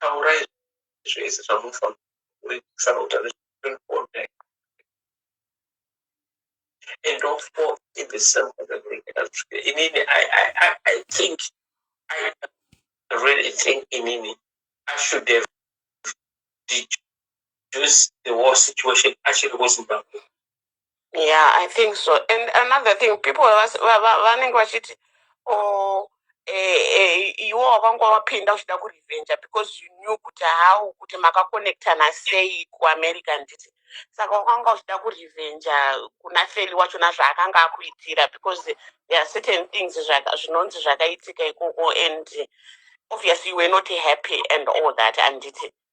taurai zvese zvamunofanira kuitisa nokuti nezvekuona and of course in the same inini I, I, I, I think I really think inini I should have deduced the war situation achiri kuZimbabwe Yeah, I think so. And another thing, people vas- va- va- vanenge vachiti oh, eh, eh, iwo wakanga wapinda uchida kurevenge because you knew kuti how kuti makakonektana sei kuamerica nditi saka wakanga uchida kurevenge kuna feli wachona zvaakanga akuitira because there are certain things zvaka- zvinonzi zvakaitika ikoko and obviously you were not happy and all that handiti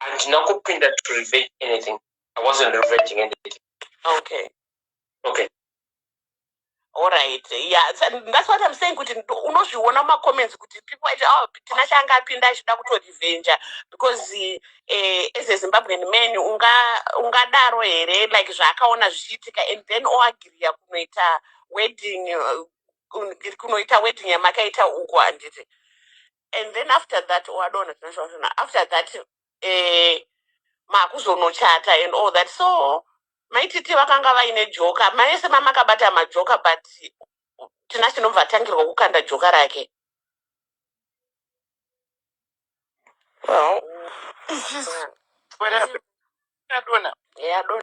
handina kupinda to revenge anything i wasn't revenging anything okay okay alright yeah that's what i'm saying kuti unozviona mumacomments kuti people aiti oh tina chaanga apinda achida kutorivenja because eh, as a zimbabwean man ungadaro unga here like zvaakaona zvichiitika and then oagriya kunoita wedding uh, kunoita wedding yamakaita uko handiti and then after that wadona zvinoshona after that eh, makuzonochata and all that so maititi vakanga vaine joka maese mamakabata majoka but tina chinobva atangirwa kukanda joka rake Well, it's just whatever. Adona. yadona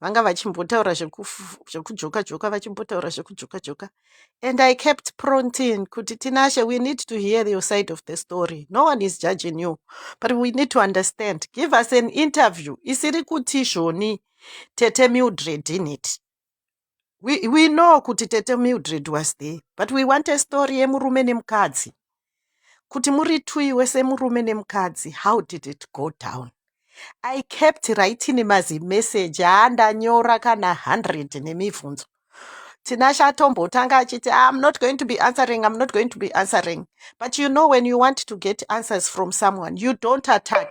vanga vachimbotaura zvekujoka joka vachimbotaura zvekujoka joka and i kept prontin kuti tinashe we need to hear your side of the story no one is judging you but we need to understand give us an interview isiri kuti zvoni tete mildred in it we, we know kuti tete mildred was there but we want a story yemurume nemukadzi kuti muri two iwe semurume nemukadzi how did it go down i kept writing mazimeseji aandanyora kana 100 nemibvunzo tinashe atombotanga achiti ah, i'm not going to be answering i'm not going to be answering but you know when you want to get answers from someone you don't attack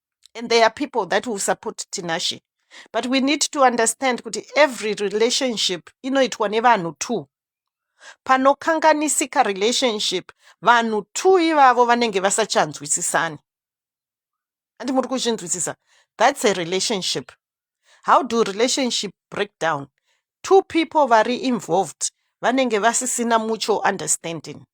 and there are people that will support tinashe but we need to understand kuti every relationship inoitwa nevanhu two panokanganisika relationship vanhu two ivavo vanenge vasachanzwisisani handi muri kuzvinzwisisa that's a relationship how do relationship break down two people vari involved vanenge vasisina mutual understanding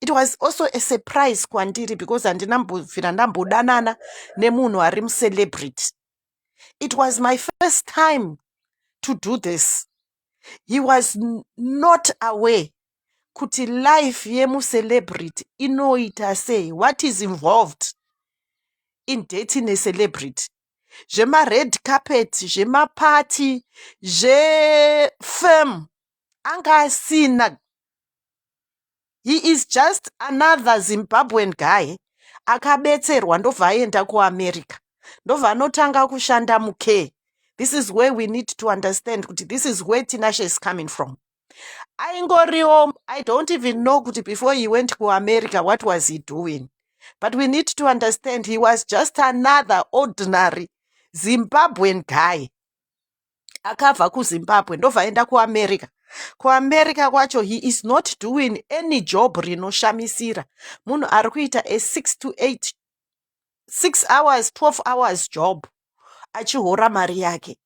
it was also a surprise kwandiri because handina mbovira ndambodanana nemunhu ari mucelebrity it was my first time to do this he was not aware kuti life yemucelebrity inoita sei what is involved in dating a celebrity zvemared carpet zvemapati zvefirm anga asina he is just another Zimbabwean guy akabetserwa ndobva aenda kuAmerica ndobva anotanga kushanda mucare this is where we need to understand kuti this is where Tinashe is coming from aingoriwo i don't even know kuti before he went kuamerica what was he doing but we need to understand he was just another ordinary zimbabwean guy akabva kuzimbabwe ndobva aenda kuamerica kuamerica kwacho he is not doing any job rinoshamisira munhu ari kuita a six to eight six hours twelve hours job achihora mari yake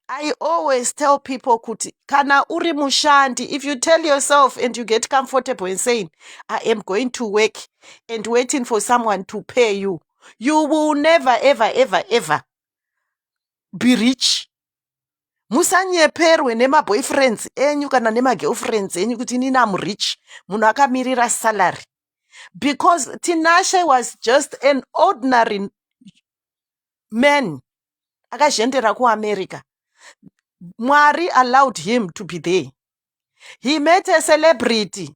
I always tell people kuti kana uri mushandi if you tell yourself and you get comfortable in saying I am going to work and waiting for someone to pay you you will never ever ever ever be rich musanyeperwe nemaboyfriends enyu kana nemagirlfriends enyu kuti inini am rich munhu akamirira salary because tinashe was just an ordinary man akazhendera kuamerica mwari allowed him to be there he met a celebrity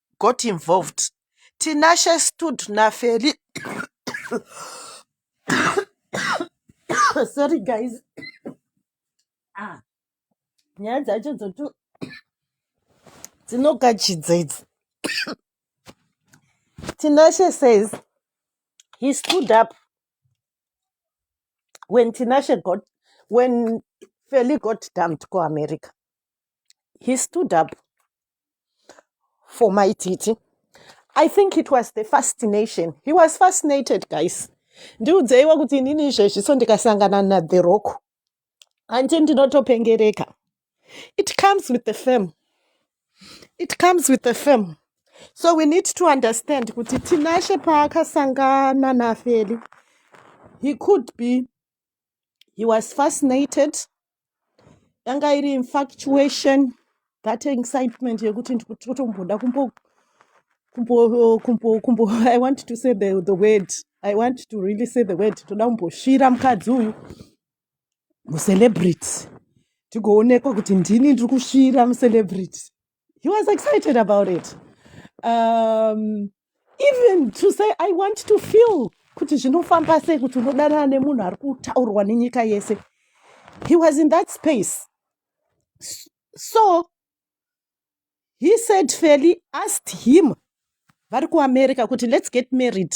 got involved Tinashe stood naFeli sorry guys ah nyaya dzacho dzoto dzinogachidza idzi tinashe says he stood up when tinashe got when feli got dumped kuamerica he stood up for my titi i think it was the fascination he was fascinated guys ndiudzeiwo kuti inini izvezvi so ndikasangana nathe rock hanti ndinotopengereka it comes with the fame it comes with the fame so we need to understand kuti tinashe paakasangana nafeli he could be he was fascinated yanga iri infactuation that excitement yekuti ndikutotomboda kumbo kumbo kumbo kumbo i want to say the, the word i want to really say the word toda kumbosvira mukadzi uyu mucelebrity tigoonekwa kuti ndini ndiri kusvira mucelebrity he was excited about it um, even to say i want to feel kuti zvinofamba sei kuti unodanana nemunhu ari kutaurwa nenyika yese he was in that space so he said feli asked him vari kuamerica kuti let's get married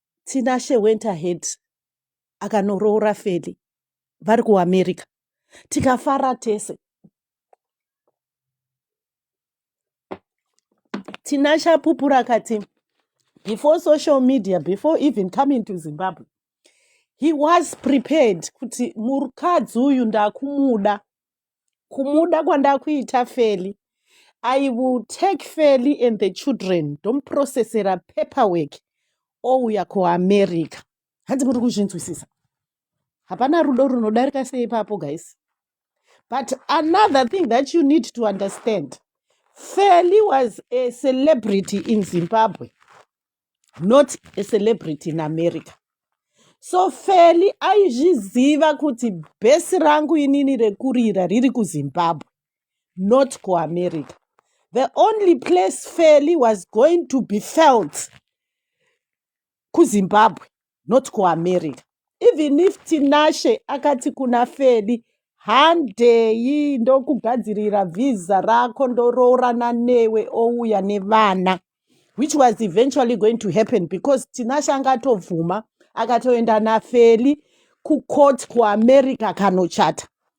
Tinashe went ahead akanoroora Feli vari kuAmerica tikafara tese. Tinashe apupura akati before social media before even coming to Zimbabwe he was prepared kuti mukadzi uyu ndakumuda kumuda kwandakuita feli i will take feli and the children ndomuprocessera paperwork ouya kuamerica hanzi muri kuzvinzwisisa hapana rudo runodarika sei ipapo guys but another thing that you need to understand feli was a celebrity in zimbabwe not a celebrity in america so feli aizviziva kuti bhesi rangu inini rekurira riri kuzimbabwe not kuamerica the only place feli was going to be felt kuzimbabwe not kuamerica even if tinashe akati kuna feli handei ndokugadzirira vhiza rako ndoroorana newe ouya nevana which was eventually going to happen because tinashe anga atovhuma akatoenda nafeli kucourt kuamerica kanochata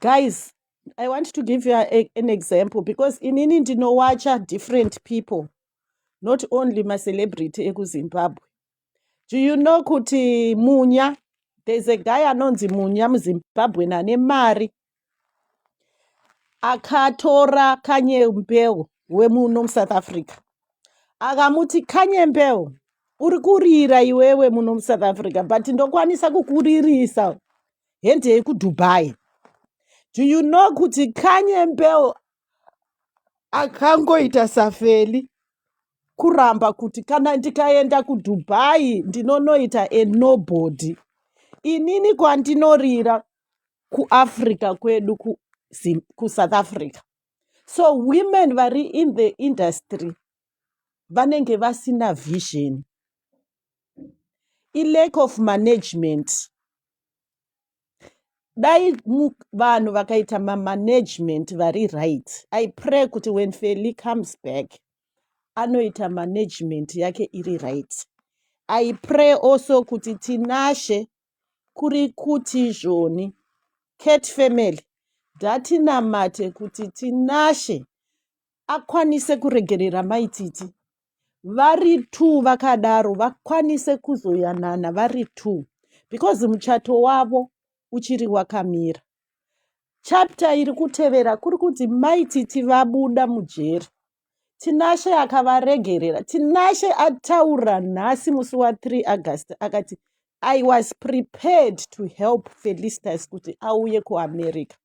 guys i want to give you a, an example because inini ndinowacha different people not only macelebrity ekuzimbabwe do you know kuti munya there's a guy anonzi munya muzimbabwen ane mari akatora kanyembeo wemuno musouth africa akamuti kanyembeo uri kurira iwewe muno musouth africa but ndokwanisa kukuririsa hendei kuDubai. Do you know kuti Kanye Mbeu akangoita safeli kuramba kuti kana ndikaenda kuDubai ndinonoita a nobody. Inini kwandinorira kuAfrica kwedu ku, Zim- kuSouth Africa. So women vari in the industry vanenge vasina vision. I lack of management. dai vanhu vakaita mamanagement vari right i pray kuti when feli comes back anoita management yake iri right i pray also kuti tinashe kuri kuti zvoni cat family ndatinamate kuti tinashe akwanise kuregerera mai titi vari two vakadaro vakwanise kuzoyanana vari two because muchato wavo uchiri wakamira chapta iri kutevera kuri kuti mai titi vabuda mujeri tinashe akavaregerera tinashe ataura nhasi musi wa 3 august akati i was prepared to help felistas kuti auye kuamerica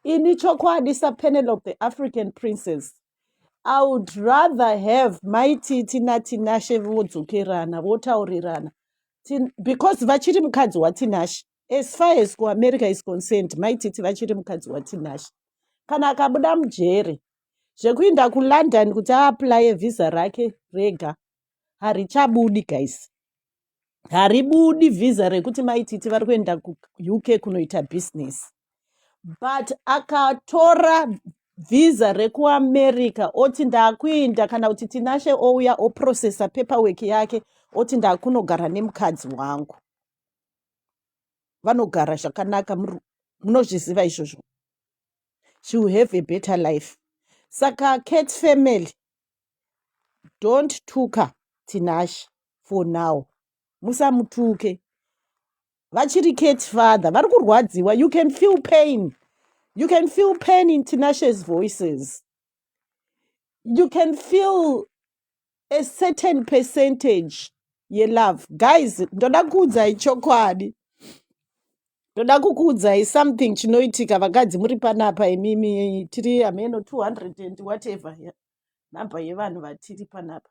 ini chokwadi sapenelope african princess i would rather have mai titi natinashe vodzokerana votaurirana Tin- because vachiri mukadzi watinashe as far as kuamerica is concerned mai titi vachiri mukadzi watinashe kana akabuda mujeri zvekuinda kulondon kuti aaplaye vhisa rake rega harichabudi guys haribudi vhiza rekuti maititi vari kuenda kuuk kunoita business but akatora vhiza rekuamerica oti ndakuinda kana kuti tinashe ouya oprocesa paperwork yake oti ndakunogara nemukadzi wangu vanogara zvakanaka munozviziva izvozvo she will have a better life saka cat family don't tuka Tinashe for now musamutuke vachiri Kate father vari kurwadziwa you can feel pain you can feel pain in Tinashe's voices you can feel a certain percentage yelove guys ndoda kuudzai chokwadi ndoda kukuudzai something chinoitika vakadzi muri panapa imimi tiri hameno 200 and whatever nhamba yevanhu vatiri panapa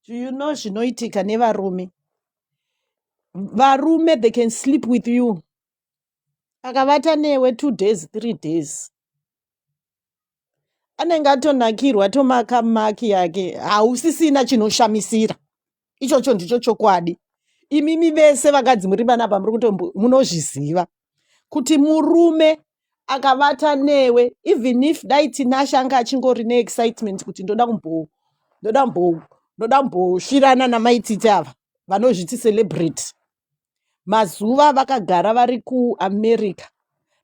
do you know zvinoitika nevarume varume they can sleep with you akavata newe two days three days anenge atonakirwa tomakamaki yake hausisina chinoshamisira ichocho ndicho chokwadi imimi vese vakadzi muri panapa muri kuto munozviziva kuti murume akavata newe even if dai tinashe anga achingori neexcitement kuti ndoda kumbo ndoda kumbo ndoda kumbosvirana namaititi ava vanozviti celebrate mazuva vakagara vari kuamerica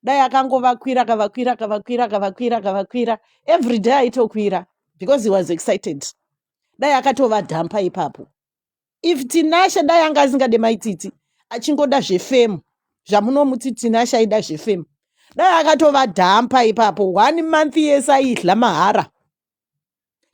dai akangovakwira akavakwira akavakwira akavakwira akavakwira every day aitokwira because he was excited dai akatova dhampa ipapo if tinashe dai anga asingade maitsitsi achingoda zvefemu zvamunomuti tinashe aida zvefemu dai akatova dhampa ipapo one month yese aidla mahara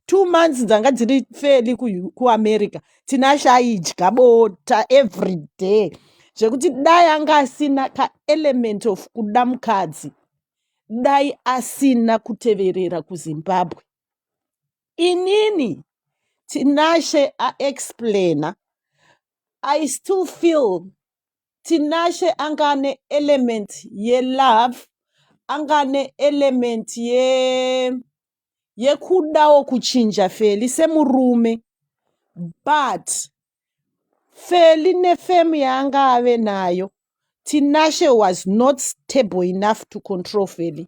two months dzanga dziri feli kuamerica tinashe aidya bota every day zvekuti dai anga asina kaelement of kuda mukadzi dai asina kuteverera kuzimbabwe Inini Tinashe a explainer I still feel Tinashe anga ane element ye love anga ane element ye yekudawo kuchinja Feli semurume but Feli nefemu yaanga ave nayo Tinashe was not stable enough to control Feli.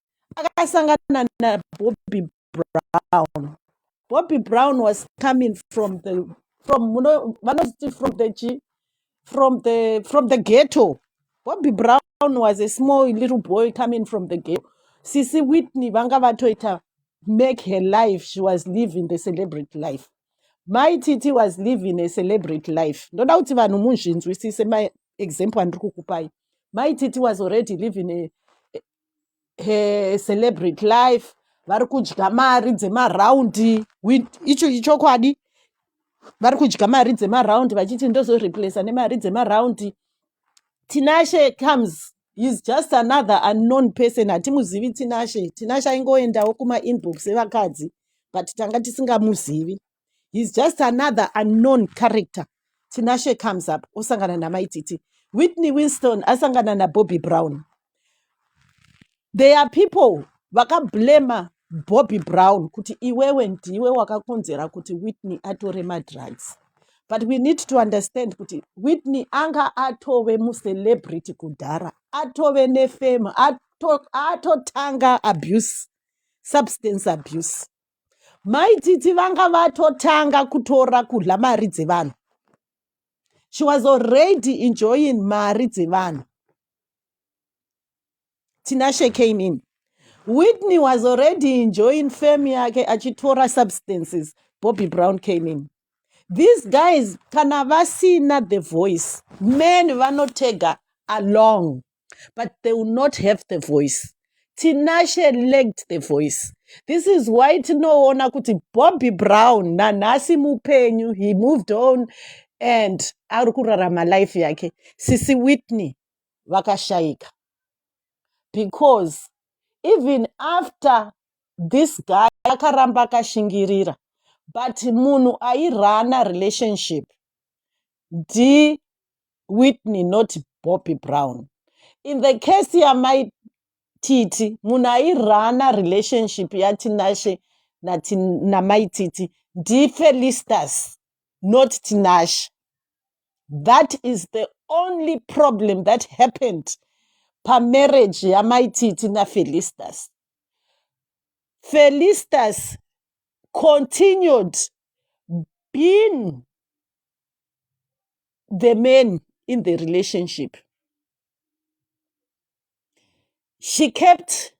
akasangana nabobby brown bobby brown was coming from the from vanoti from the chi from the from the ghetto bobby brown was a small little boy coming from the ghetto sisi whitney vanga vatoita make her life she was living the celebrity life mai titi was living a celebrity life ndoda kuti vanhu munzvinzwisise maexample andiri kukupai mai titi was already living a, eh, celebrity life vari kudya mari dzemaraundi icho ichokwadi vari kudya mari dzemaraundi vachiti ndozoreplace nemari dzemaraundi tinashe comes he's just another unknown person hatimuzivi tinashe tinashe aingoendawo kumainbox evakadzi but tanga tisingamuzivi he's just another unknown character tinashe comes up osangana namaititi whitney winston asangana nabobby brown there are people vakablema bobby brown kuti iwewe ndiwe wakakonzera kuti whitney atore madrugs but we need to understand kuti whitney anga atove mucelebrity kudhara atove nefame ato- atotanga abuse substance abuse Mai Tsitsi vanga vatotanga kutora kudla mari dzevanhu. She was already enjoying mari dzevanhu. Tinashe came in. Whitney was already enjoying fame yake achitora substances. Bobby Brown came in. These guys kana vasina the voice, men vanotega along. but they will not have the voice tinashe lacked the voice this is why tinoona kuti bobby brown nanhasi mupenyu he moved on and ari kurarama life yake sisi whitney vakashayika because even after this guy akaramba akashingirira but munhu airana relationship ndi whitney not bobby brown in the case yamai titi munhu airana relationship yatinashe namai titi ndifelistas not tinashe that is the only problem that happened pamarriage yamai titi nafelistas felistas continued being the man in the relationship she kept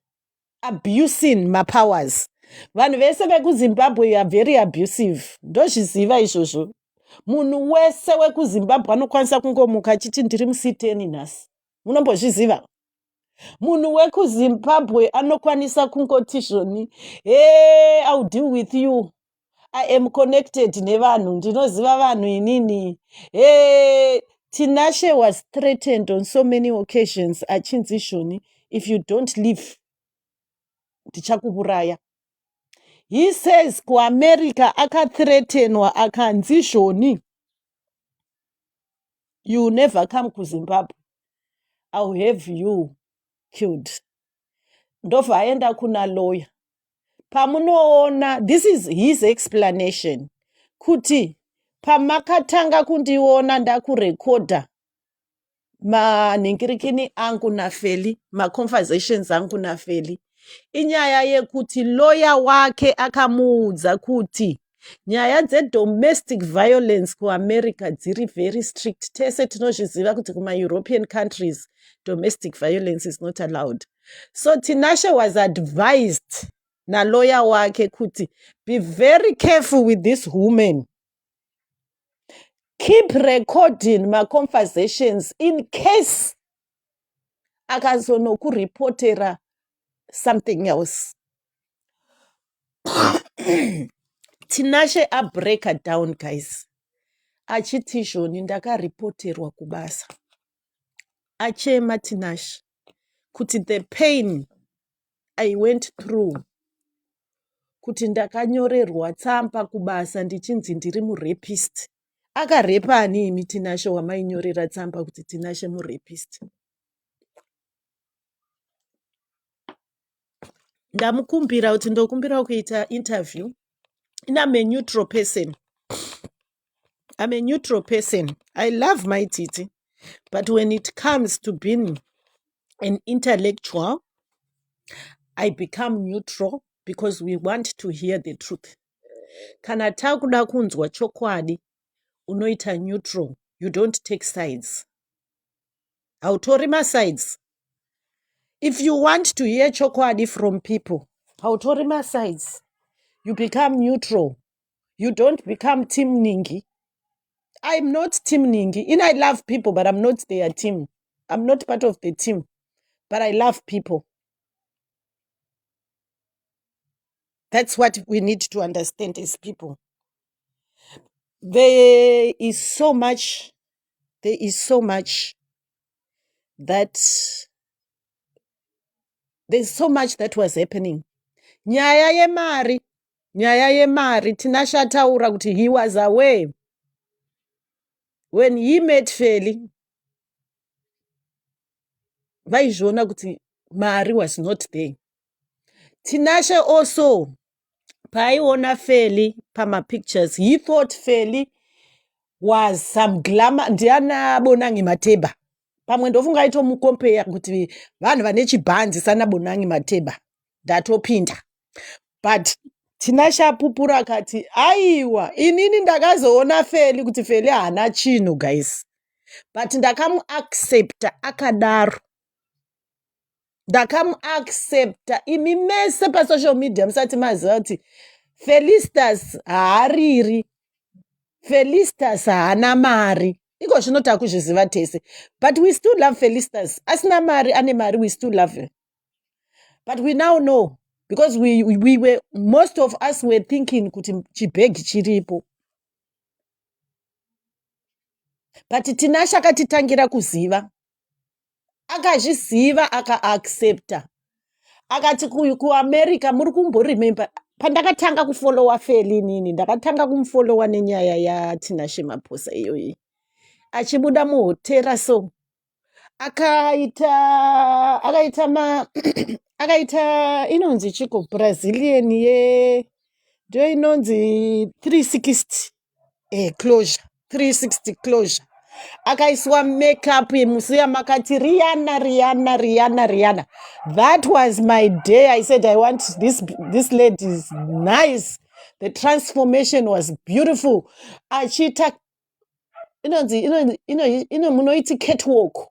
abusing mapowers vanhu vese vekuzimbabwe are very abusive ndozviziva izvozvo munhu wese wekuzimbabwe anokwanisa kungomuka achiti ndiri musiteni nhasi munombozviziva munhu wekuzimbabwe anokwanisa kungoti zvoni he iw deal with you i am connected nevanhu ndinoziva vanhu inini hey, tinashe was threatened on so many occasions achinzi shoni if you don't leave ndichakuuraya he says kuamerica akathreatenwa akanzi shoni you never come kuzimbabwe ill have you killed ndobva aenda kuna lawyer pamunoona this is his explanation kuti pamakatanga kundiona ndakurekodha manhingirikini angu nafeli maconversations angu nafeli inyaya yekuti loya wake akamuudza kuti nyaya dzedomestic violence kuamerica dziri very strict tese tinozviziva kuti kumaeuropean countries domestic violence is not allowed so tinashe was advised naloya wake kuti be very careful with this woman keep recording maconversations in case akazonokuripotera something else tinashe abreaka down guys achiti izvoni ndakaripoterwa kubasa achema tinashe kuti the pain i went through kuti ndakanyorerwa tsamba kubasa ndichinzi ndiri murepist akarepa ani imi tinashe wamainyorera tsamba kuti tinashe murepist ndamukumbira kuti ndokumbirawo kuita interview in am a neutral person i'm a neutral person i love my titi but when it comes to being an intellectual i become neutral because we want to hear the truth kana takuda kunzwa chokwadi unoita neutral you don't take sides hautori masides if you want to hear chokwadi from people hautori masides you become neutral you don't become team ningi i'm not team ningi in i love people but i'm not their team i'm not part of the team but i love people That's what we need to understand as people. There is so much, there is so much that there's so much that was happening. Nyaya yemari, nyaya yemari, Tinashe ataura kuti he was aware when he met Feli vaizviona kuti mari was not there. Tinashe also paaiona Feli pama pictures he thought Feli was some glamour ndiana Bonangi Mateba pamwe ndofunga aitomukompeya kuti vanhu vane chibhanzi sana Bonangi Mateba ndatopinda but Tinashe apupura akati aiwa inini ndakazoona Feli kuti Feli haana chinhu guys but ndakamuaccepta akadaro ndakamuaccepta imi mese pasocial media musati maziva kuti felistas haariri felistas haana mari iko zvino takuzviziva tese but we still love felistas asina mari ane mari we still love her but we now know because we, we were most of us were thinking kuti chibhegi chiripo but tinashe akatitangira kuziva akazviziva akaaccepta akati kuamerica muri kumboremember pandakatanga kufolowa feli nini ndakatanga kumufolowa nenyaya yatinashe maposa iyoyi achibuda muhotera so akaita akaita ma akaita inonzi chiko brazilian ye ndio inonzi 360 eh, closure 360 closure akaiswa makeup musi yamakati riana riana riana riana that was my day i said i want this, this lady is nice the transformation was beautiful achiita inonzi ino- ino- ino- munoiti catwalk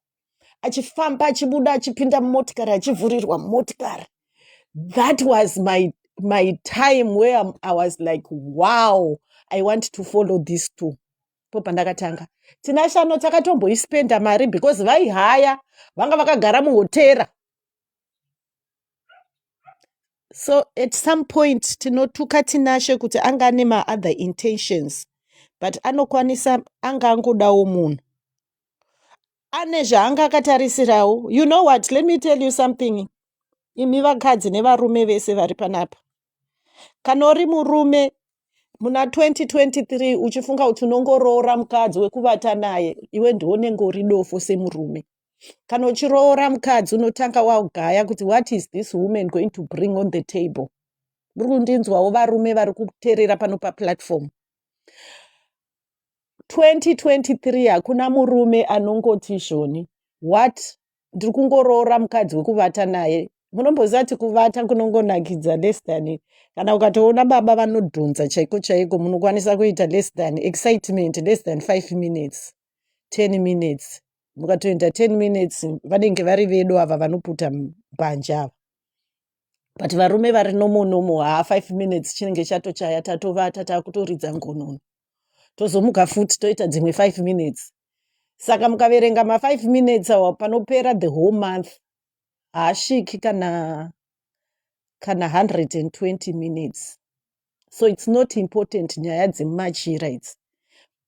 achifamba achibuda achipinda mumotikari achivhurirwa mumotikari that was my my time where I'm- i was like wow i want to follow these two po pandakatanga tina shano takatomboispenda mari because vaihaya vanga vakagara muhotera so at some point tinotuka tinashe kuti anga ane maother intentions but anokwanisa anga angodawo munhu ane zvaanga akatarisirawo you know what let me tell you something imi vakadzi nevarume vese vari panapa kana uri murume muna 2023 uchifunga kuti unongoroora mukadzi wekuvata naye iwe ndiwo unenge uri dofo semurume kana uchiroora mukadzi unotanga wagaya kuti what is this woman going to bring on the table muri kundinzwawo varume vari kuterera pano paplatform 2023 hakuna murume anongoti zvoni what ndiri kungoroora mukadzi wekuvata naye munomboziva ti kuvata kunongonakidza less than kana ukatoona baba vanodhonza chaiko chaiko munokwanisa kuita less than excitement less than five minutes ten minutes mukatoenda ten minutes vanenge vari vedu ava vanoputa mbanje ava but varume vari nomonomo haa five minutes chinenge chatochaya tatovata takutoridza ngonono tozomuka futi toita dzimwe five minutes saka mukaverenga mafive minutes awa panopera the whole month haasviki kana kana 120 minutes so it's not important nyaya dzemachira idzi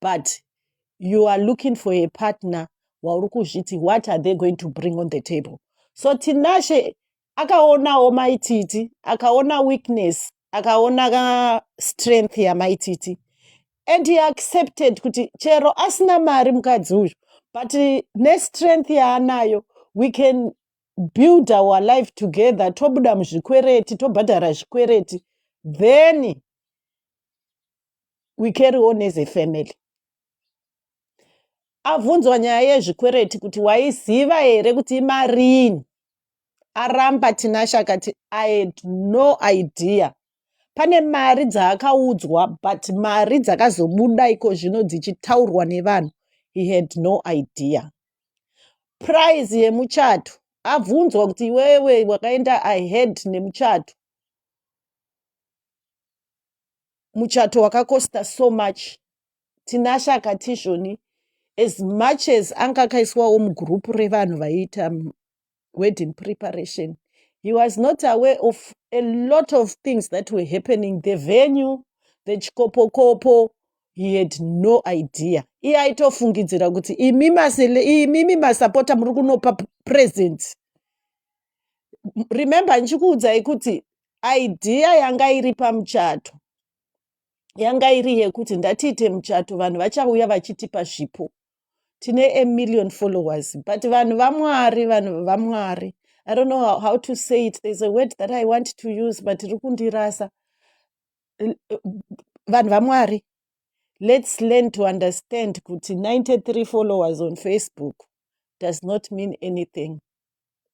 but you are looking for a partner wauri kuzviti what are they going to bring on the table so tinashe akaonawo maititi akaona weakness akaona strength yamaititi and he accepted kuti chero asina mari mukadzi uyu but nestrength yaanayo we can build our life together tobuda muzvikwereti tobhadhara zvikwereti then we carry on as a family abvunzwa nyaya yezvikwereti kuti waiziva here kuti imarini aramba tinashe akati i had no idea pane mari dzaakaudzwa but mari dzakazobuda iko zvino dzichitaurwa nevanhu he had no idea prize yemuchato abvunzwa kuti iwewe wakaenda i had nemuchato muchato wakakosta so much tinashe akati izvoni as much as anga akaiswawo mugroup revanhu vaiita wedding preparation he was not aware of a lot of things that were happening the venue the chikopokopo he had no idea iye aitofungidzira kuti imi masele imimi masapota muri kunopa p- presents M- remember ndichikuudzai kuti idea yanga iri pamuchato yanga iri yekuti ndatiite muchato vanhu vachauya vachitipa zvipo tine a million followers but vanhu vamwari vanhu vamwari i don't know how, how to say it there's a word that i want to use but iri kundirasa vanhu vamwari let's learn to understand kuti 93 followers on facebook does not mean anything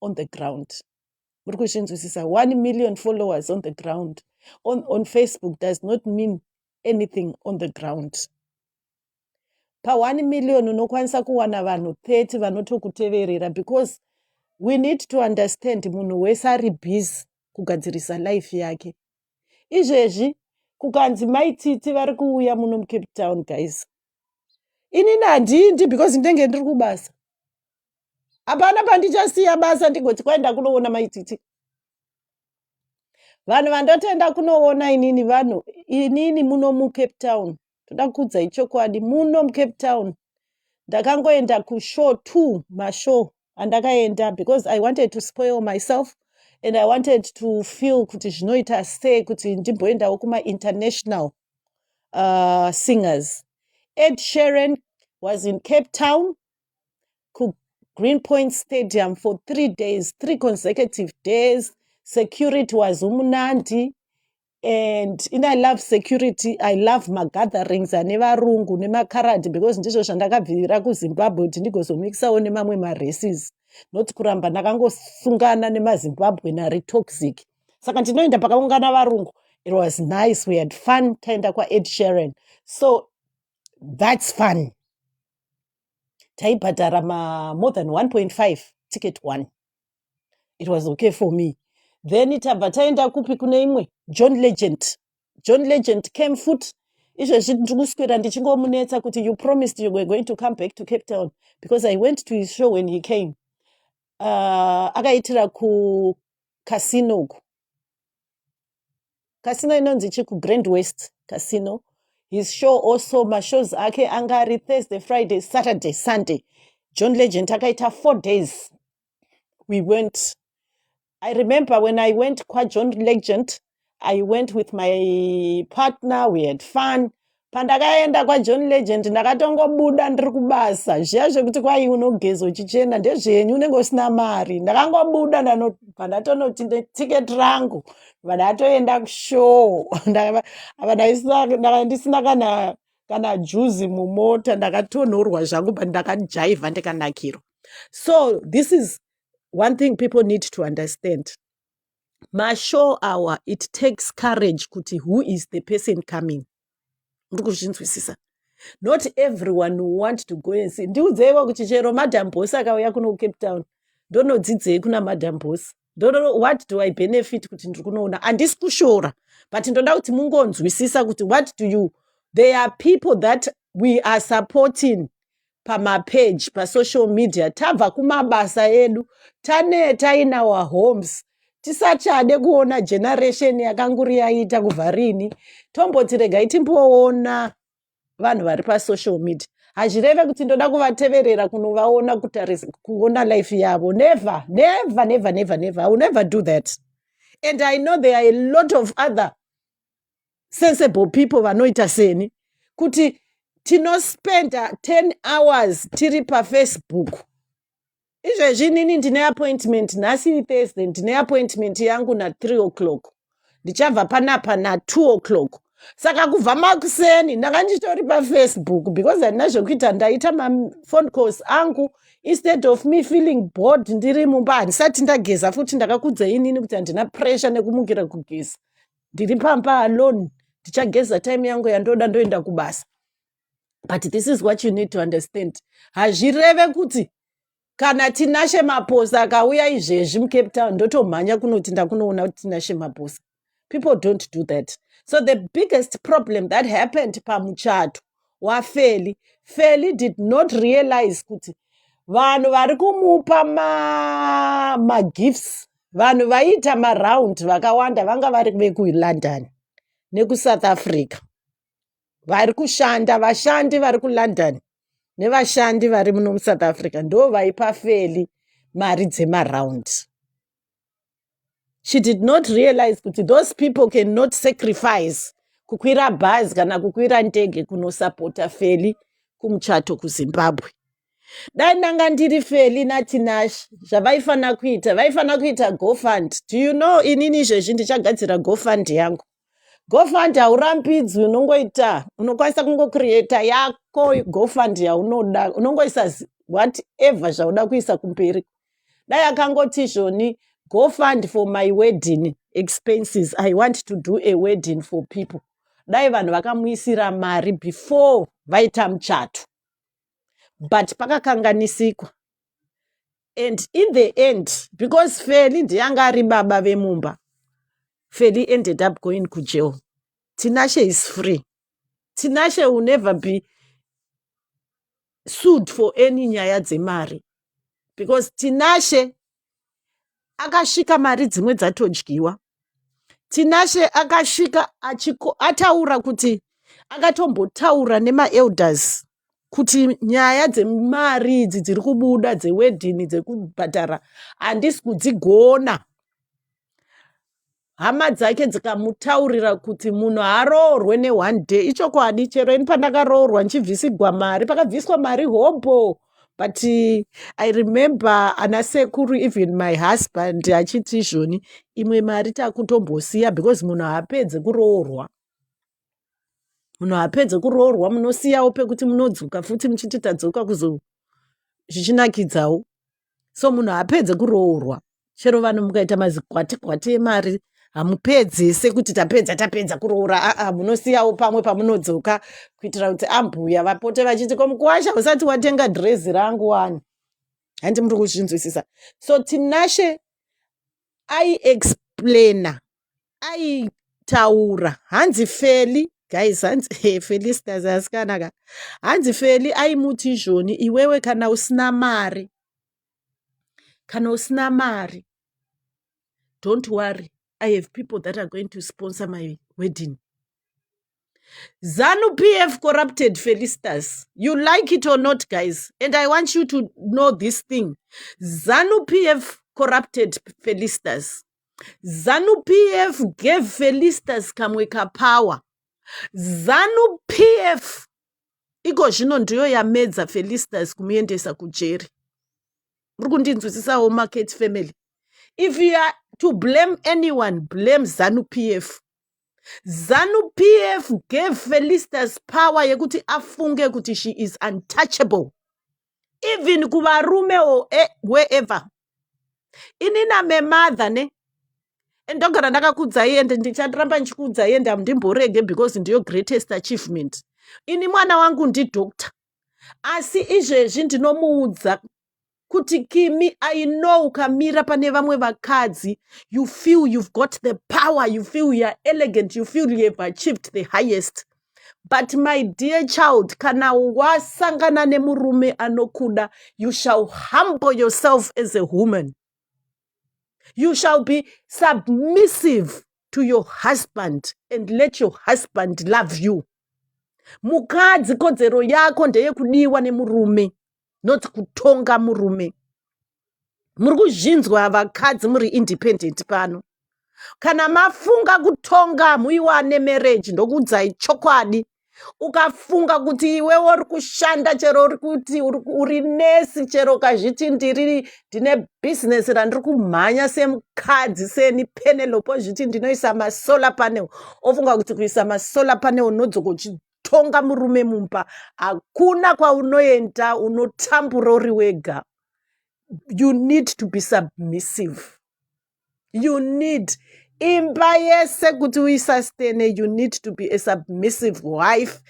on the ground muri kuzvinzwisisa one million followers on the ground on, on facebook does not mean anything on the ground pa 1 million unokwanisa kuwana vanhu 30 vanotokuteverera because we need to understand munhu wese ari busy kugadzirisa life yake izvezvi kukanzi mai titi vari kuuya muno mucape town guys inini handiindi because ndinenge ndiri kubasa hapana pandichasiya basa ndigoti kwaenda kunoona mai titi vanhu vandotenda kunoona inini vanhu inini muno mucape town toda kuudza ichokwadi muno mucape town ndakangoenda kushow two mashow andakaenda because i wanted to spoil myself and i wanted to feel kuti zvinoita sei kuti ndimboendawo kumainternational uh, singers ed sharon was in cape town kugreen point stadium for three days three consecutive days security was umunandi and in i love security i love magatherings ane varungu nemakaradi because ndizvo zvandakabvirira kuzimbabwe kuti ndigozomikisawo nemamwe maraces not kuramba ndakangosungana nemazimbabwe nari toxic saka ndinoenda pakaungana varungu it was nice we had fun taenda kwaed sharon so that's fun taibhadhara ma more than 1.5 ticket one it was okay for me then tabva taenda kupi kune imwe john legend john legend came foot izvezvi ndiri kuswera ndichingomunetsa kuti you promised you were going to come back to cape town because i went to his show when he came uh, akaitira kucasino uku casino inonzi chi kugrand west casino his show also mashows ake anga ari thursday friday saturday sunday john legend akaita four days we went i remember when i went kwajohn legend i went with my partner we had fun Pandakaenda kwaJohn Legend ndakatongobuda ndiri kubasa. Zviya zvekuti kwai unogeza uchichena ndezvenyu unenge usina mari. Ndakangobuda ndano- pandatonoti ne- ticket rangu vandatoenda kushow. Ndakava- apa ndaisina- ndaka- ndisina kana kana juzi mumota ndakatonhorwa zvangu but ndakajaivha ndikanakirwa. So this is one thing people need to understand. mashow awa it takes courage kuti who is the person coming muri kuzvinzwisisa not everyone who want to go and see ndiudzeiwa kuti chero madam boss akauya kuno kucape town ndonodzidzei kuna madam boss ndono what do i benefit kuti ndiri kunoona handisi kushora but ndoda kuti mungonzwisisa kuti what do you there are people that we are supporting pamapeji pasocial media tabva kumabasa edu taneta in our homes tisachade kuona generation yakanguri yaita kubva rini tomboti regai timboona vanhu vari pasocial media hazvireve kuti ndoda kuvateverera kunovaona kutarisa kuona life yavo never never never never never i will never do that and i know there are a lot of other sensible people vanoita seni kuti tinospenda 10 hours tiri pafacebook izvezvi inini ndine appointment nhasi ithursday ndine appointment yangu na3 o'clock ndichabva panapa na2 o'clock saka kubva makuseni ndanga ndichitori pafacebook because handina zvekuita ndaita mafone calls angu instead of me feeling board ndiri mumba handisati ndageza futi ndakakudza inini kuti handina pressure nekumukira kugeza ndiri pamba alone ndichageza time yangu yandoda ndoenda kubasa but this is what you need to understand hazvireve kuti kana tinashe maposa akauya izvezvi mucape town ndotomhanya kunoti ndakunoona kuti tinashe maposa people don't do that so the biggest problem that happened pamuchato waFeli. Feli did not realize kuti vanhu vari kumupa ma, magifts vanhu vaiita maround vakawanda vanga vari vekulondon nekusouth africa vari kushanda vashandi vari kulondon nevashandi vari muno musouth africa ndo vaipa feli mari dzemaround she did not realize kuti those people cannot sacrifice kukwira bhazi kana kukwira ndege kunosapota feli kumuchato kuzimbabwe dai ndanga ndiri feli natinash zvavaifanira kuita vaifanira kuita gofund do you know inini izvezvi ndichagadzira gofund yangu gofund haurambidzwi unongoita unokwanisa kungocreata yako gofund yaunoda unongoisa whatever zvauda kuisa kumberi dai akangoti izvoni gofund for my wedding expenses i want to do a wedding for people dai vanhu vakamuisira mari before vaita muchato but pakakanganisikwa and in the end because feli ndiye anga ari baba vemumba feli ended up going kujail tinashe is free tinashe will never be sued for any nyaya dzemari because tinashe akasvika mari dzimwe dzatodyiwa tinashe akasvika achiko, ataura kuti akatombotaura nemaelders kuti nyaya dzemari idzi dziri kubuda dzewedhini dzekubhadhara handisi kudzigona hama dzake dzikamutaurira kuti munhu aroorwe neone day ichokwadi chero ini pandakaroorwa ndichibvisigwa mari pakabviswa mari hobho but i remember ana sekuru even my husband achiti izvoni imwe mari takutombosiya because munhu haapedze kuroorwa munhu apedze kuroorwa munosiyawo pekuti munodzoka futi muchiti tadzoka kuzo zvichinakidzawo so munhu apedze kuroorwa chero vanhu mukaita mazikwati kwati emari hamupedze sekuti tapedza tapedza kuroora aa munosiyawo pamwe pamunodzoka kuitira kuti ambuya vapote vachiti ko mukuwasha usati watenga dhirezi rangu wani handi muri kuzvinzwisisa so tinashe ai explainer aitaura hanzi feli guys hanzi hey, felistas asikana ka hanzi feli aimuti izvoni iwewe kana usina mari kana usina mari don't worry i have people that are going to sponsor my wedding Zanu PF corrupted Felistas. You like it or not, guys. And I want you to know this thing. Zanu PF corrupted Felistas. Zanu PF gave Felistas Kamweka power. Zanu PF iko zvino ndiyo yamedza Felistas kumuendesa kujeri. Muri kundinzwisisawo market family. If you are to blame anyone, blame Zanu PF. zanu pf gave felistas power yekuti afunge kuti she is untouchable even kuvarume or e- wherever ini namemother ne and ndogara ndakakudzai ende ndicharamba ndichikuudzai ende hamdimborege because ndiyo greatest achievement ini mwana wangu ndidoctor asi izvezvi ndinomuudza kuti kimi i know ukamira pane vamwe vakadzi you feel you've got the power you feel you're elegant you feel you have achieved the highest but my dear child kana wasangana nemurume anokuda you shall humble yourself as a woman you shall be submissive to your husband and let your husband love you mukadzi kodzero yako ndeyekudiwa nemurume not kutonga murume muri kuzvinzwa vakadzi muri independent pano kana mafunga kutonga muiwane marriage ndokuudzai chokwadi ukafunga kuti iwewe uri kushanda chero uri kuti uri ku- uri nesi chero ukazviti ndiri ndine bhizinesi randiri kumhanya semukadzi seni penelope ozviti ndinoisa masolar panel ofunga kuti kuisa masolar panel unodzoka uchi- tonga murume mumba hakuna kwaunoenda unotambura uri wega you need to be submissive you need imba yese kuti uisastene you need to be a submissive wife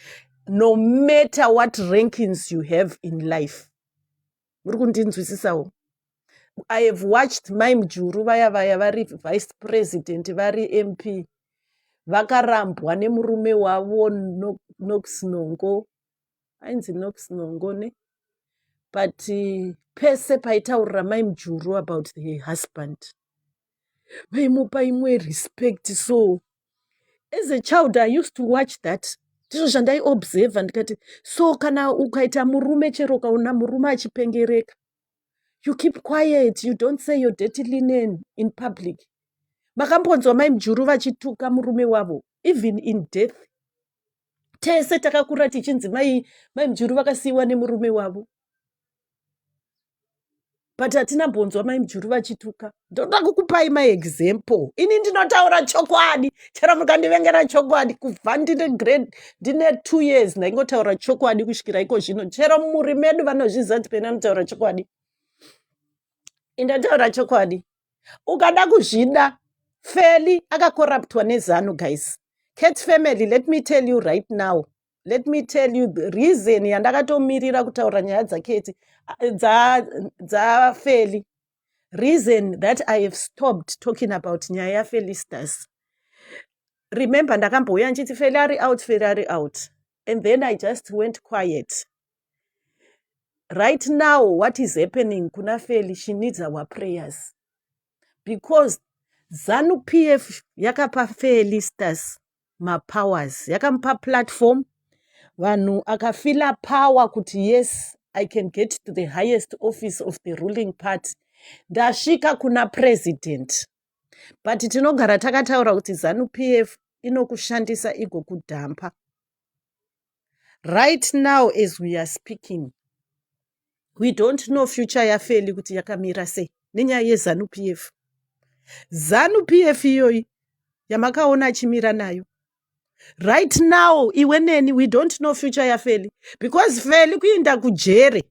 no matter what rankings you have in life muri kundinzwisisawo i have watched mai mujuru vaya vaya vari vice president vari mp vakarambwa nemurume wavo nox nongo ainzi nox nongo ne but pese paitaurira mai mujuru about the husband vaimupa imwe respect so as a child i used to watch that ndizvo zvandaiobserva ndikati so kana ukaita murume chero ukaona murume achipengereka you keep quiet you don't say your dirty linen in public makambonzwa mai mjuru vachituka murume wavo even in death tese takakura tichinzi mai mai mjuru vakasiiwa nemurume wavo but hatina mbonzwa mai mjuru vachituka ndoda kukupai maexample ini ndinotaura chokwadi chero mukandivengera chokwadi kubva ndine grade ndine two years ndaingotaura chokwadi kusvikira iko zvino chero muri medu vanozviziva kuti pena anotaura chokwadi indataura chokwadi ukada kuzvida feli akakoraptwa nezanu guys cat family let me tell you right now let me tell you the reason yandakatomirira kutaura nyaya dzaketi dzafeli reason that i have stopped talking about nyaya yafelistas remember ndakambouya ndichiti feli ari out feli ari out and then i just went quiet right now what is happening kuna feli she needs our prayers because zanu p f yakapa felistas mapowers yakamupa platform vanhu akafila power kuti yes i can get to the highest office of the ruling party ndasvika kuna president but tinogara takataura kuti zanu p f inokushandisa igokudhampa Right now as we are speaking we don't know future yaFeli kuti yakamira sei nenyaya yeZanu PF. Zanu PF iyoyi yamakaona achimira nayo right now iwe neni we don't know future yafeli because feli kuinda kujere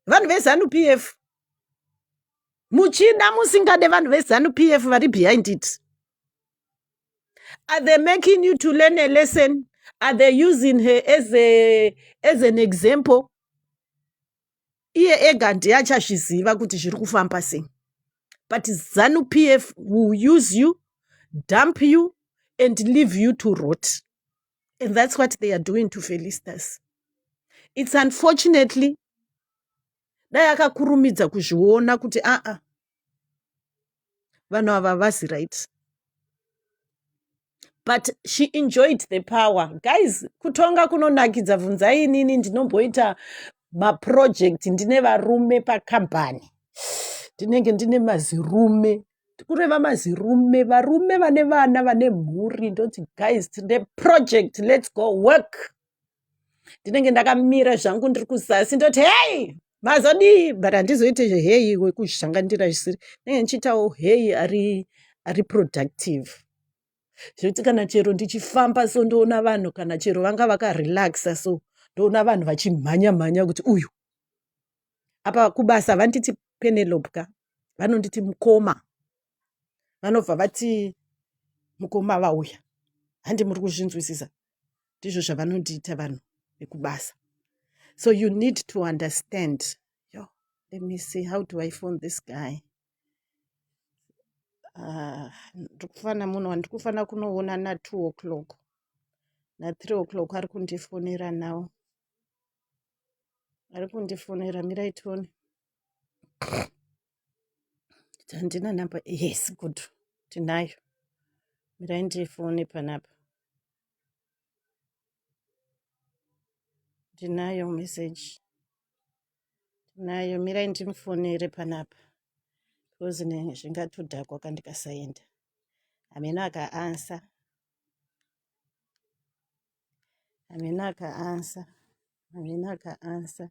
vanhu vezanu p f muchida musingade vanhu vezanu p f vari behind it Are they making you to learn a lesson? Are they using her as, a, as an example? iye ega ndiye achazviziva kuti zviri kufamba sei but zanu pf will use you dump you and leave you to rot and that's what they are doing to felistas it's unfortunately dai akakurumidza kuzviona kuti aa vanhu ava vasi right but she enjoyed the power guys kutonga kunonakidza bvunzai inini ndinomboita maproject ndine varume pakambani ndinenge ndine mazirume kureva mazirume varume vane vana vane mhuri ndoti guys the project let's go work ndinenge ndakamira zvangu ndiri kuzasi ndoti hei mazodii but handizoite zveheyi wekuzhangandira zvisiri ndinenge ndichiitawo heyi ari ari productive zvekuti kana chero ndichifamba so ndoona vanhu kana chero vanga vakarelaxa so ndoona vanhu vachimhanya mhanya kuti uyu apa kubasa vanditi penelope ka vanonditi mukoma vanobva vati mukoma vauya handi muri kuzvinzwisisa ndizvo zvavanondiita vanhu vekubasa so you need to understand yo let me see how do i phone this guy ah, ndikufanira munhu wandikufanira kunoona natwo o'clock nathree o'clock ari kundifonera now ari kundifonera miraitoni handina number yes good tinayo mirai ndifone panapa ndinayo message tinayo mirai ndimufonere panapa because zvingatodhakwa kandikasaenda hameno akaansa hameno akaansa hameno akaansa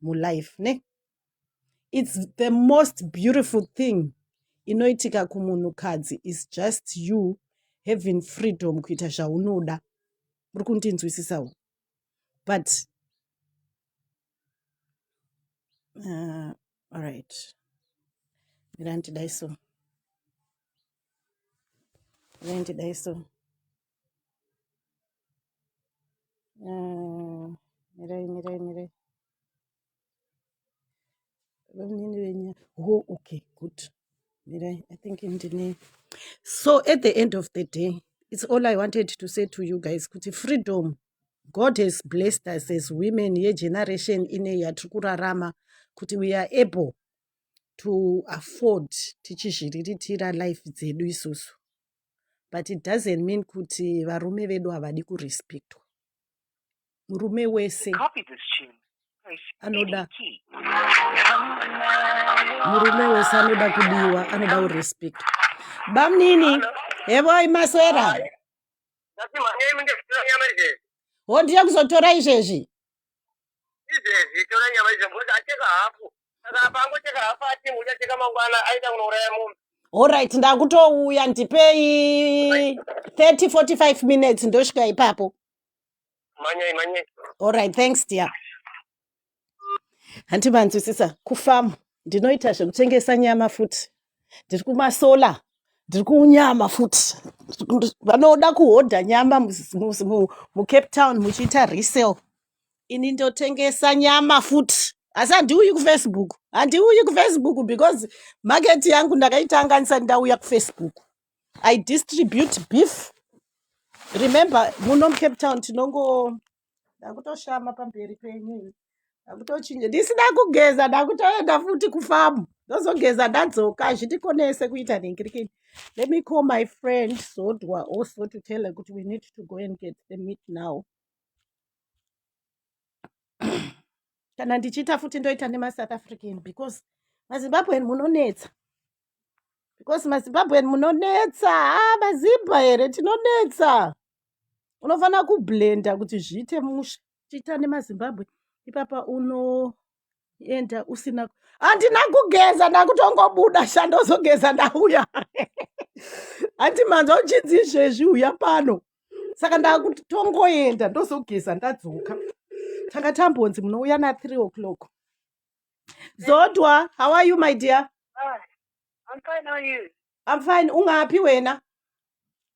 mulife ne its the most beautiful thing inoitika kumunhukadzi is just you having freedom kuita zvaunoda muri kundinzwisisawo but uh, alright mirandidai so mirandidai so Ah, mirai mirai mirai vanini venyu ho okay good mirai i think ndine so at the end of the day it's all i wanted to say to you guys kuti freedom god has blessed us as women yegeneration ine yatiri kurarama kuti we are able to afford tichizviriritira life dzedu isusu but it doesn't mean kuti varume vedu havadi kurespectwa murume wese anoda murume wese anoda kudiwa anoda kurespectwa bamnini hevoi maswera hondiya kuzotora izvezvi izvezvi tora nyama izvezvi acheka hafu saka apa angocheka hafu atimu uchacheka mangwana aita kunouraya munhu Alright, ndakutouya ndipei 30 45 minutes ndosvika ipapo. manyai manyai Alright, thanks dear. Hanti manzwisisa kufamu ndinoita zvekutengesa nyama futi. Ndiri kumasola, ndiri kunyama futi. Ndiri- Vanoda kuhodha nyama mu, mu, mu, mu Cape Town muchiita resale. ini ndotengesa nyama futi asi handiuyi kufacebook handiuyi kufacebook because market yangu ndakaitanga ndisati ndauya kufacebook i distribute beef remember muno mucape town tinongo ndakutoshama pamberi penyu ndakutochinja ndisina kugeza ndakutoenda futi kufamu ndozogeza ndadzoka hazvitikonese kuita nhingirikini let me call my friend zodwa also to tell her kuti we need to go and get the meat now kana ndichiita futi ndoita nemasouth african because mazimbabwen munonetsa because mazimbabwen munonetsa ha ah, mazimba here tinonetsa unofanira kublenda kuti zviite musha chiita nemazimbabwe ipapa uno enda usina handina kugeza ndakutongobuda shandozogeza ndauya handi manzwa uchinzi izvezvi uya pano saka ndakuti tongoenda ndozogeza ndadzoka tanga tambonzi munouya na three o'clock zodwa how are you my dear I'm fine, how are you? I'm fine. Ungapi wena?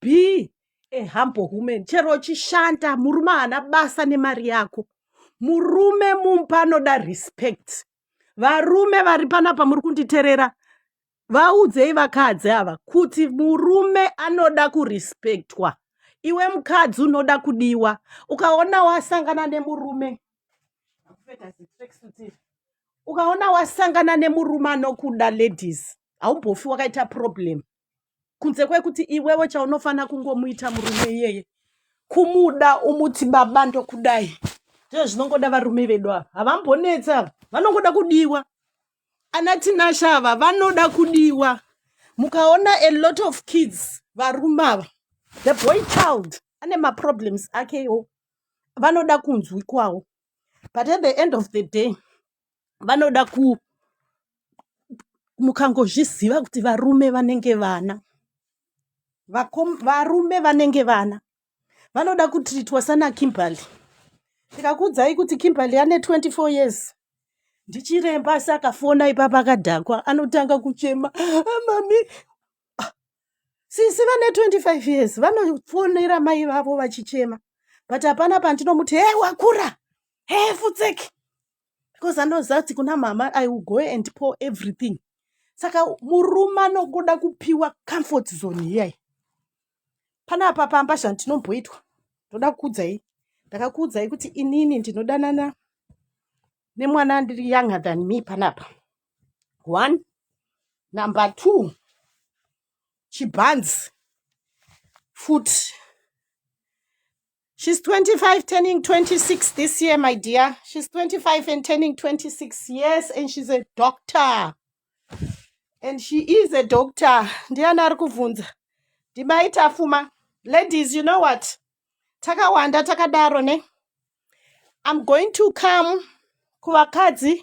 be a humble woman chero uchishanda murume haana basa nemari yako murume mumba anoda respect varume vari panapa muri kunditerera vaudzei vakadzi ava kuti murume anoda kurespektwa iwe mukadzi unoda kudiwa ukaona wasangana nemurume ukaona wasangana nemurume anokuda ladies haumbofi wakaita problem kunze kwekuti iwewe chaunofanira kungomuita murume iyeye kumuda umuti baba ndokudai ndizvo zvinongoda varume vedu ava havambonetsa ava vanongoda kudiwa ana tinasha ava vanoda kudiwa mukaona a lot of kids varume ava the boy child ane maproblems akewo vanoda kunzwikwawo but at the end of the day vanoda ku mukangozviziva kuti varume vanenge vana Vakom, varume vanenge vana vanoda kutritwa sana kimberly ndikakuudzai kuti kimberly ane 24 years ndichiremba asi akafona ipapa akadhakwa anotanga kuchema "Ah, mami ah, sisi vane 25 years vanofonera mai vavo vachichema but hapana pandinomuti he wakura he futseki because anoziva kuti kuna mama i will go and pour everything saka murume anogoda kupiwa comfort zone iyayi panapa pamba zvandinomboitwa ndoda kukuudzai ndakakuudzai kuti inini ndinodanana nemwana ndiri younger than me panapa one number two chibhanzi futi She's 25, turning 26 this year, my dear. She's 25 and turning 26 years, and she's a doctor. And she is a doctor. Ndiani ari kubvunza? Ndimai Tafuma. Ladies, you know what? Takawanda takadaro ne. I'm going to come kuvakadzi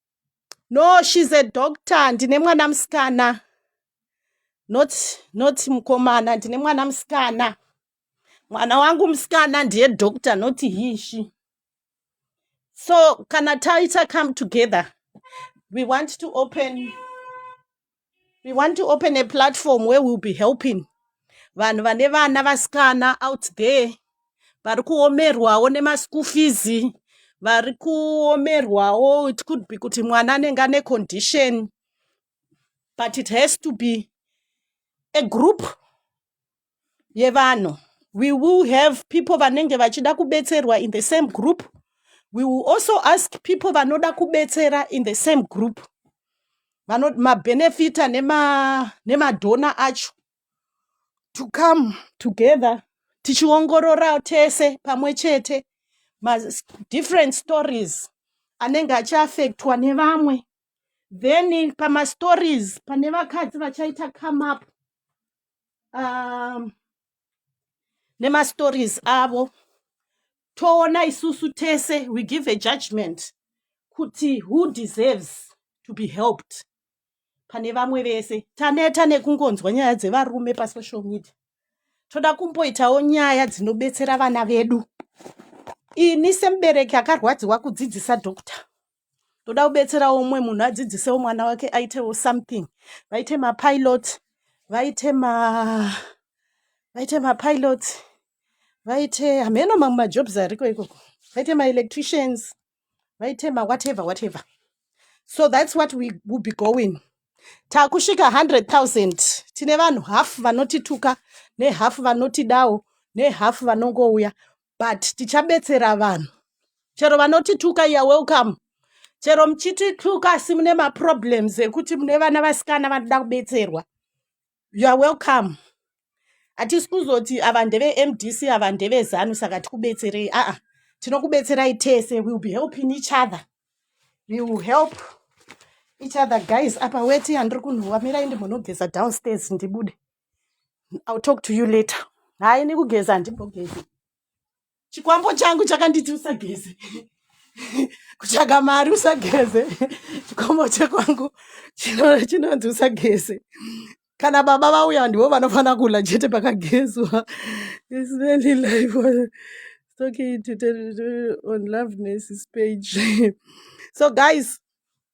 no she's a doctor ndine mwana musikana not not mukomana ndine mwana musikana mwana wangu musikana ndiye doctor not hishi so kana taita come together we want to open we want to open a platform where we'll be helping vanhu vane vana vasikana out there vari kuomerwawo nemaschool fees vari kuomerwawo it could be kuti mwana anenge ane condition but it has to be a group yevanhu we will have people vanenge vachida kubetserwa in the same group we will also ask people vanoda kubetsera in the same group mabenefita nemadhona nema acho to come together tichiongorora tese pamwe chete madifferent stories anenge achiafektwa nevamwe then pamastories pane vakadzi vachaita come up um, nemastories avo toona isusu tese we give a judgment kuti who deserves to be helped pane vamwe vese taneta nekungonzwa nyaya dzevarume pasocial media toda kumboitawo nyaya dzinobetsera vana vedu ini semubereki akarwadziwa kudzidzisa doctor toda kubetserawo umwe munhu adzidzisewo mwana wake aitewo something vaite mapilot vaite ma vaite mapilot vaite hameno mamwe majobs ariko ikoko vaite maelectricians vaite mawhatever whatever so that's what we will be going takusvika 100 000 tine vanhu half vanotituka nehalf vanotidawo nehalf vanongouya but tichabetsera vanhu chero vanotituka ya welcome chero muchitituka asi mune maproblems ekuti mune vana vasikana vanoda kubetserwa ya welcome hatisi kuzoti ava ndevemdc ava ndevezanu saka tikubetserei aa tinokubetserai tese will be helping each other we will help each other guys apa weti yandiri kunhuwa mirai ndimbonogeza downstairs ndibude I'll talk to you later hayi nekugeza handimbogezi chikwambo changu chakanditi usageze kutsvaga mari usageze chikwambo chekwangu chinonzi usageze kana baba vauya ndivo vanofanira kula chete pakagezwa on loveness page so guys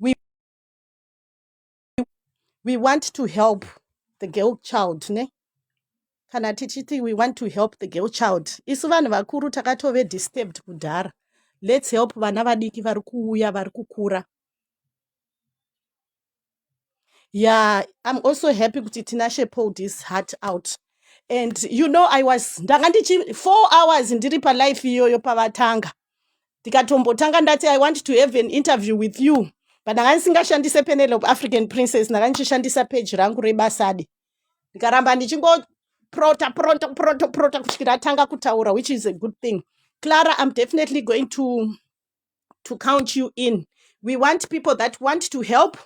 we, we want to help the girl child ne kana tichiti we want to help the girl child isu vanhu vakuru takatove disturbed kudhara let's help vana vadiki vari kuuya vari kukura yeah i'm also happy kuti tinashe pulled his heart out and you know i was ndanga ndichi four hours ndiri palife iyoyo pavatanga ndikatombotanga ndati i want to have an interview with you but ndanga ndisingashandise panel of african princess ndanga ndichishandisa page rangu rebasade ndikaramba ndichingoprota prota prota prota kusvikira atanga kutaura which is a good thing clara i'm definitely going to to count you in we want people that want to help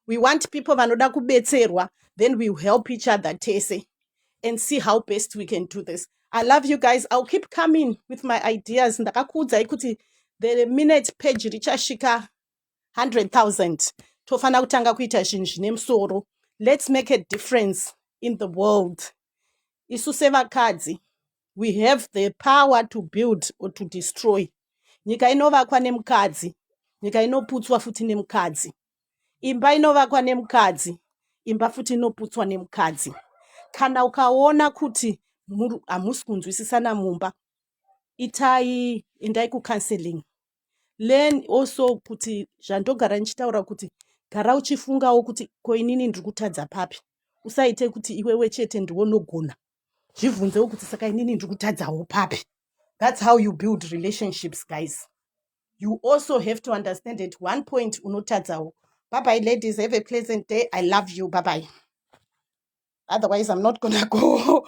we want people vanoda kubetserwa then we help each other tese and see how best we can do this i love you guys i'll keep coming with my ideas ndakakuudzai kuti the minute page richasvika 100000 tofanira kutanga kuita zvinhu zvine musoro let's make a difference in the world isu sevakadzi we have the power to build or to destroy nyika inovakwa nemukadzi nyika inoputswa futi nemukadzi imba inovakwa nemukadzi imba futi inoputswa nemukadzi kana ukaona kuti hamusi kunzwisisana mumba itai endai kucounseling learn also kuti zvandogara ndichitaura kuti gara uchifungawo kuti koinini ndiri kutadza papi usaite kuti iwewe chete ndiwonogona zvibvunzewo kuti saka inini ndiri kutadzawo papi thats how you build relationships guys you also have to understand at one point unotadzawo bye bye ladies have a pleasant day i love you bye bye otherwise i'm not gonna go